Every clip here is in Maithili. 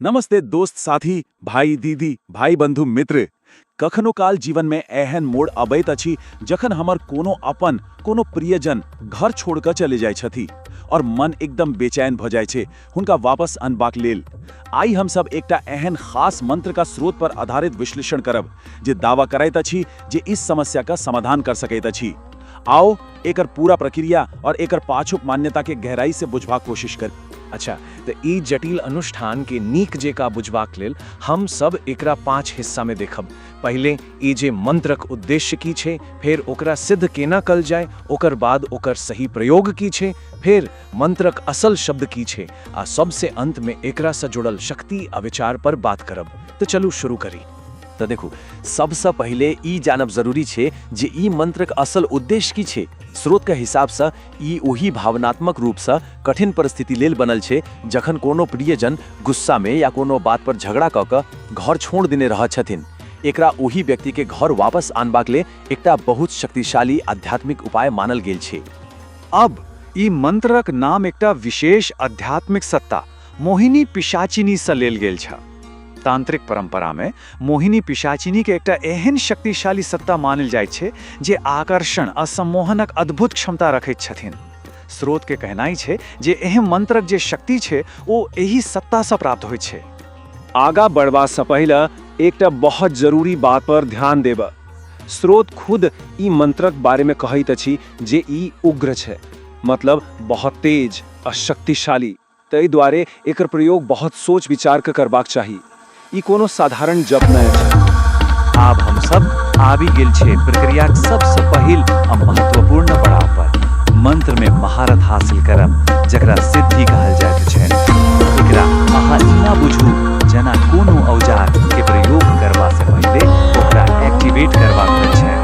नमस्ते दोस्त साथी भाई दीदी भाई बंधु मित्र कखनो काल जीवन में एहन मोड़ अबैत अछि जखन हमर कोनो अपन कोनो प्रियजन घर छोड़ के चले जाय छथि और मन एकदम बेचैन भ जाय छे हुनका वापस अनबाक लेल आई हम सब एकटा एहन खास मंत्र का स्रोत पर आधारित विश्लेषण करब जे दावा करैत अछि जे इस समस्या का समाधान कर सकैत अछि आओ एकर पूरा प्रक्रिया और एकर पाछुक मान्यता के गहराई से बुझवा कोशिश कर अच्छा तऽ ई जटिल अनुष्ठान के नीक जेका बुझबाक लेल हम सब एकरा पांच हिस्सा में देखब पहिले ई जे मंत्रक उद्देश्य की छै फेर ओकरा सिद्ध केना कल जाय ओकर बाद ओकर सही प्रयोग की छै फेर मंत्रक असल शब्द की छै आ सबसे अंत में एकरा से जुड़ल शक्ति आ विचार पर बात करब तऽ चलू शुरू करी तऽ देखू सबसँ पहिले ई जानब जरूरी छै जे ई मंत्रक असल उद्देश्य की छै स्रोत के हिसाब से ई ओहि भावनात्मक रूप सँ कठिन परिस्थिति लेल बनल छै जखन कोनो प्रियजन गुस्सा में या कोनो बात पर झगड़ा क क घर छोड़ देने रहऽ छथिन। एकरा ओहि व्यक्ति के घर वापस आनबाक ले एकटा बहुत शक्तिशाली आध्यात्मिक उपाय मानल गेल छै। अब, ई मंत्रक नाम एकटा विशेष आध्यात्मिक सत्ता, मोहिनी पिशाचिनी सँ लेल गेल छ। तांत्रिक परंपरा मे मोहिनी पिशाचिनी केँ एकटा एहेन शक्तिशाली सत्ता मानल जाइत छै जे आकर्षण आ सम्मोहनक अद्भुत क्षमता रखैत छथिन। स्रोत केँ कहनाइ छै जे एहि मंत्रक जे शक्ति छै ओ एहि सत्ता सँ प्राप्त होइत छै। आगा बढ़बा सँ पहिले एकटा बहुत जरूरी बात पर ध्यान देबय। स्रोत खुद ई मंत्रक बारे मे कहैत अछि जे ई उग्र छै। मतलब बहुत तेज। आ शक्तिशाली। तइ द्वारे एकर प्रयोग बहुत सोच विचार क करबाक चाही। ई कोनो साधारण जप नै अछि। आब हम सब आबि गेल छै प्रक्रियाक सब स पहिल आ महत्वपूर्ण पड़ाव पर। मंत्र में महारथ हासिल करब जकरा सिद्धि कहल जाइत छैन। एकरा अहाँ एना बुझू जना कोनो औजार के प्रयोग करबा स पहिले ओकरा एक्टिवेट करबाक होइत छैक।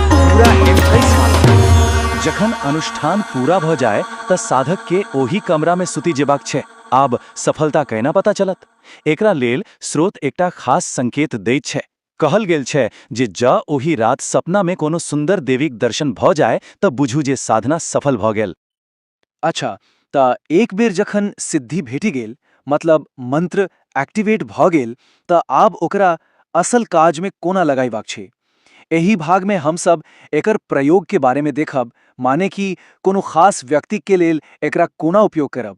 पूरा एडवाइस मानू जखन अनुष्ठान पूरा भ जाए त साधक के ओही कमरा में सुति जेबाक छै आब सफलता कैना पता चलत एकरा लेल स्रोत एकटा खास संकेत दैत छै कहल गेल छै जे ज ओही रात सपना में कोनो सुन्दर देवीक दर्शन भ जाए त बुझू जे साधना सफल भ गेल अच्छा तऽ एक बेर जखन सिद्धि भेटि गेल मतलब मंत्र एक्टिवेट भऽ गेल तऽ आब ओकरा असल काज मे कोना लगयबाक छै। एहि भाग मे हम सब एकर प्रयोग के बारे मे देखब माने कि कोनो खास व्यक्ति के लेल एकरा कोना उपयोग करब।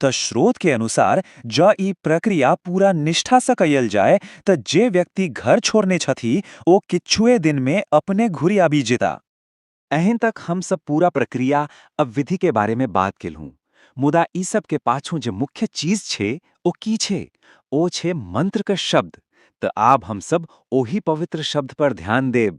त श्रोत के अनुसार जँ ई प्रक्रिया पूरा निष्ठा सँ कयल जाय त जे व्यक्ति घर छोड़ने छथि ओ किछुए दिन मे अपने घुरि आबि जेता। एहन तक हम सब पूरा प्रक्रिया आ विधि के बारे मे बात केलहुँ। मुदा ई सब के पाछू जे मुख्य चीज छे ओ की छे? ओ छे मंत्र क शब्द। त आब हम सब ओहि पवित्र शब्द पर ध्यान देब।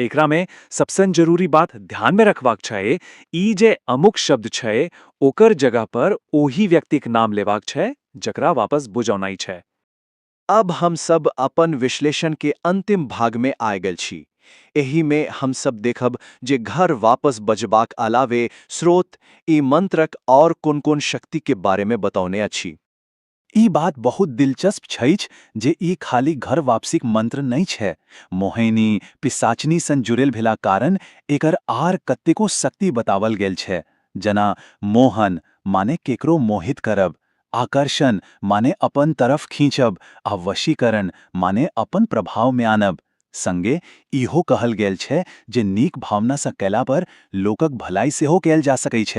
एकरा में सबसन जरूरी बात ध्यान में रखवाक छए ई जे अमुक शब्द छए ओकर जगह पर ओही व्यक्तिक नाम लेवाक छए जकरा वापस बुजौनाइ छए। अब हम सब अपन विश्लेषण के अंतिम भाग में आए गेल छी। एहि में हम सब देखब जे घर वापस बजबाक अलावे स्रोत ई मंत्रक और कोन-कोन शक्ति के बारे में बतौने अछि। ई बात बहुत दिलचस्प छइछ जे ई खाली घर वापसीक मंत्र नइ छै। मोहैनी, पिशाचनी सन जुड़ेल भेला कारण एकर आर कतेको शक्ति बतावल गेल छै। जना मोहन, माने केकरो मोहित करब, आकर्षण, माने अपन तरफ खींचब, आ वशीकरण, माने अपन प्रभाव मे आनब। संगे ईहो कहल गेल छै जे नीक भावना सँ कयला पर लोकक भलाई सेहो कयल जा सकैछ।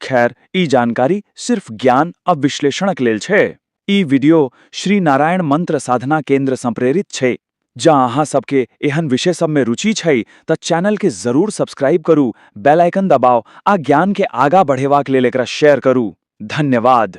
खैर, ई जानकारी सिर्फ ज्ञान आ विश्लेषणक लेल छै। ई वीडियो श्री नारायण मंत्र साधना केंद्र सँ प्रेरित छै। जँ अहाँ सभ केँ एहन विषय सभ मे रुचि छै तँ चैनल केँ जरूर सब्सक्राइब करू, बेल आइकन दबाउ आ ज्ञान केँ आगा बढ़ेबाक लेल एकरा शेयर करू। धन्यवाद।